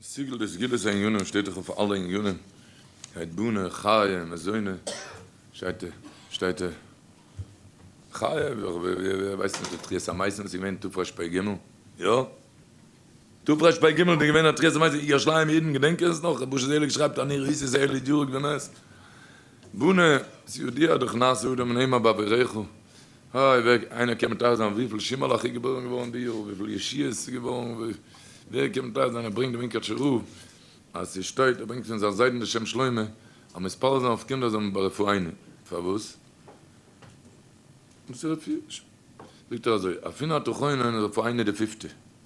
סיגל די סגולת הענינים שטייט דאך אויף אלע ענינים, שטייט בונה, חי', מזונה, שטייט שטייט חי', ווייסט מען די תחיית המתים וואס איז געווען תרפ פ ג, יא? תרפ פ ג איז געווען א תחיית המתים, ירושלים אידן געדענקען עס נאך? רבושע זעליג שרייבט אז ניר איסט איז ערלי דיורק די נס, בונה, סעודיה דאך נעשה אדם און המה באביריך. הא הא ווער איינער קען מטהר זיין וויפיל שימעלעך איז געבוירן געווארן די יאר וויפיל ישיעות איז געווארן ווער קען מטהר זיין ער ברענגט די מונקאטשע רב אז ס'שטייט ער ברענגט פון זיין זיידן די שם שלמה אז מתפלל זיין אויף קינדער זאל מען ברפואינו פארוואס זאגט ער אזוי אפי' נאר תוכינו אין רפואינו די פיפטע.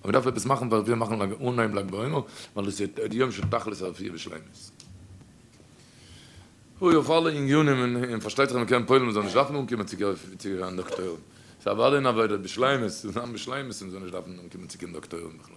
אבער דארף עפעס מאכן פאר עס וויל מאכן אנהייב לג בעומר ווייל דאס איז די יום של תכלית הרפואה בשלימות. אוי אויף אלע עניינים און פארשטייט זיך מען קען פועל'ן מען זאל נישט דארפן אנקומען צו קיין דאקטוירים ס'איז אוודאי אין עבודה בשלימות צו זיין בשלימות און מען זאל נישט דארפן אנקומען צו קיין דאקטוירים בכלל.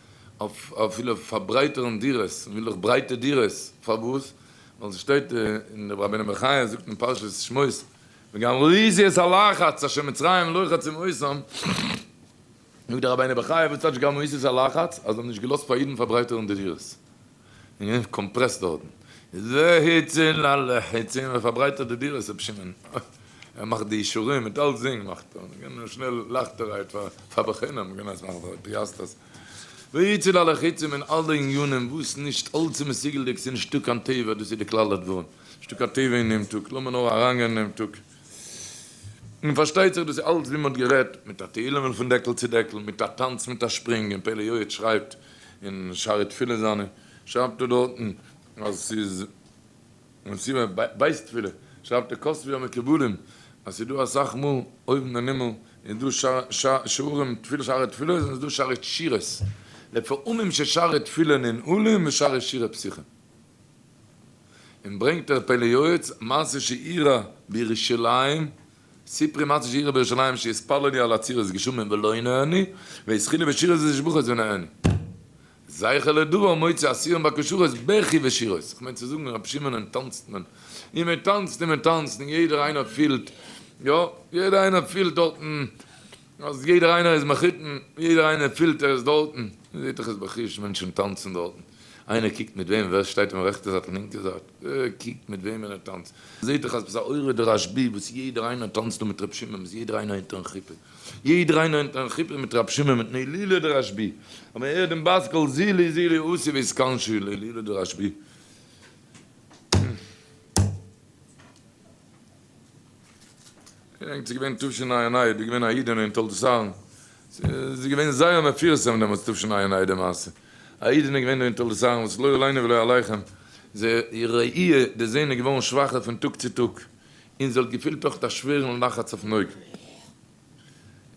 אויף אפילו פארברייטערן דירות, און וויל דאך ברייטע דירות, פארוואס? ווייל ס'שטייט אין די רבינו בחיי זאגט אין פרשת שמות וגם לאיזי את הלחץ אשר מצרים לוחצים אותם, זאגט די רבינו בחיי וואס טייטש גאמאיסיס הלחץ? אז זיי האבן נישט געלאזט פאר אידן פארברייטערן די דירות, און געווען קאמפרעסט דארטן, איז ווער היץ און אלע היץ און ווער פארברייטערט די דירות רבי שמעון, ער מאכט די אישורים מיט אלס זינג מאכט ער, מ'קען נאר שנעל לייכטערהייט פאר פאר בחינם מ'קען אלעס מאכן פאר פיאסטערס, ווער היץ און אלע חיצים און אלע עניינים וואס נישט אלס איז מסוגלדיג ס'איז נישטא קיין טבע דאס איז די כלל הדברים, נישטא קיין טבע אין דעם טאג לאמיר נאר אריינגיין אין דעם טאג, און פארשטייט זיך דאס איז אלס ווי מ'האט גערעדט מיט א תהילים'ל פון דעקל צו דעקל מיט א טאנץ מיט א שפרינג און פלא יועץ שרייבט אין שערי תפילה זיינע שרייבט ער דארטן אז ס'איז מסיבה בית תפילה, שרייבט ער כספי המקובלים אז ס'איז דא אסאך מאל אויבן אין הימל איז דא שערים תפילה שערי תפילות און ס'איז דא שערי שירות, לפעמים ששערי תפילה ננעלים ושערי שירה פתוחים. און ברענגט ער פלא יועץ מעשה שאירע בירושלים סיפרי מצות שירה בירושלים שיתפלל לי על עצירת גשמים ולא ינעני ויזכיר לי בשירות ותשבחות ונעני זכר לדבר מוציא אסירים בכשרות בכי ושירות כ'מיין צו זאגן רבי שמעון און טאנצט מען און מען טאנצט און מען טאנצט און יעדער איינער פילט יא יעדער איינער פילט דארטן אז יעדער איינער איז מחותן, יעדער איינער פילט ער איז דארטן, מען זעט דאך עס בחוש, מענטשן טאנצן דארטן, איינער קוקט מיט וועם, ווער שטייט אים רעכטע זייט און לינקע זייט, ווער קוקט מיט וועמען ער טאנצט, מען זעט דאך אז ביז א אורי דרשבי וואס יעדער איינער טאנצט דא מיט רבי שמעון, ביז יעדער איינער אונטערן חופה, יעדער איינער אונטערן חופה מיט רבי שמעון מיט נעלילא דרשבי, אז מען הערט דעם בת קול זילי זילי עשי ואיסקנשי לעלילא דרשבי. ענק ס'איז געווען תשנ א אין איד איז געווען א אידענע אין תולדות אהרן ס'איז געווען זייער מפורסם דעמאלטס תשנ א אין איד די מעשה א אידענע איז געווען דא אין תולדות אהרן וואס לא עלינו ולא עליכם זי איר ראי' די זעהן איז געווארן שוואכער פון טאג צו טאג און זי האט געפילט אויך א שווערן לחץ אויפן אויג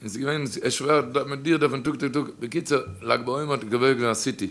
און ס'איז געווען שווער מיט דיר דארף מען טאג צו טאג בקיצור לג בעומר האט געווען א סיטי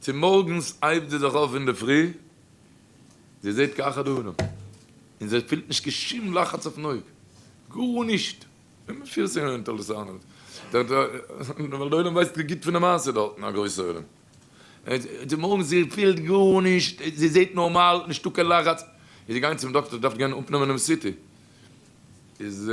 צומארגנס הייבט זי זיך אויף אינדערפרי, זי זעט קיין אחד העולם, און זי פילט נישט קיין שום לחץ אויפן אויג, גארנישט, ווען מען פירט זיך אינטערעסאנט, ווייל די עולם ווייסט נישט גוט פון די מעשה דארטן, א גרויסע עולם, צומארגנס זי פילט גארנישט, זי זעט נארמאל, נישטא קיין לחץ, איז זי געגאנגען צום דאקטער, זי דארף גיין אפנעמען דעם סי טי, איז.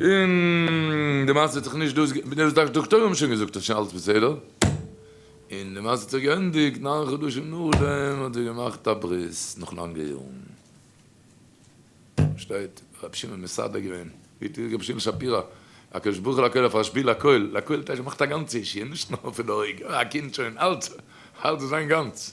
און די מעשה האט זיך נישט דאס געענדיגט, ווידער דאס דאקטוירים האבן שוין געזאגט אז שוין אלעס בסדר, און די מעשה האט זיך געענדיגט נײַן חדשים נאכדעם האט זי געמאכט א ברית נאך לאנגע יארן. שטייט רבי שמעון מסאדע געווען, ווי האט געזאגט רבי שמעון שפירא, הקדוש ברוך הוא לקהל פאר שפיל לקהל, לקהל טייטש ער מאכט א גאנצע אישי נישט נאר פון די אויג, א קינד שוין אלץ אלץ זיין גאנץ.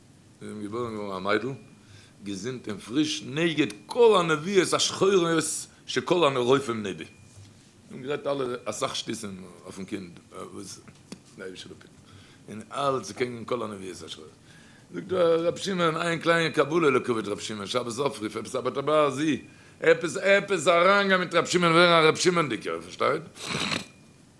און געבוירן געווארן א מיידל געזונט און פריש נגד כל הנביאות השחורות שכל הרופאים נביא און גערעדט אלע אסאך שטותים אויפן קינד וואס די אייבישטער האט געפיק און אלץ קעגן כל הנביאות השחורות זאגט ר' שמעון איין קליינע קבלה לכבוד ר' שמעון שבת אפריוו עפעס א בת הבעל זי ע עפעס עפעס אריינגיין מיט ר' שמעון ווערן א ר' שמעון'דיגער פארשטייט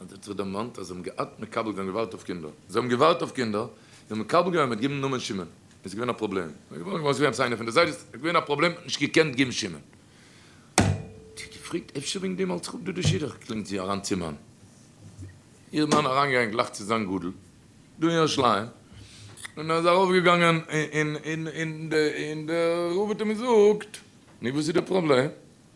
האט זיך זיך דערמאנט אז זיי האבן געהאט מקבל געווען געווארט אויף קינדער, זיי האבן געווארט אויף קינדער, זיי האבן מקבל געווען מיט גיבן נאמען שמעון, איז געווען א פראבלעם, זיי האבן געווארט געווען עפעס איינער פון די זיידעס, איז געווען א פראבלעם, האט נישט געקענט גיבן שמעון, האט זיך געפרעגט אפשר וועגן דעם האלט זיך אפ דא די שידוך, קלינגט זי אריין צום מאן, איר מאן אריינגעגאנגען גלייך צו זיין גדול דא אין ירושלים, און אז ארויף געגאנגען אין די רב האט אים געזאגט, נו וואס איז די פראבלעם?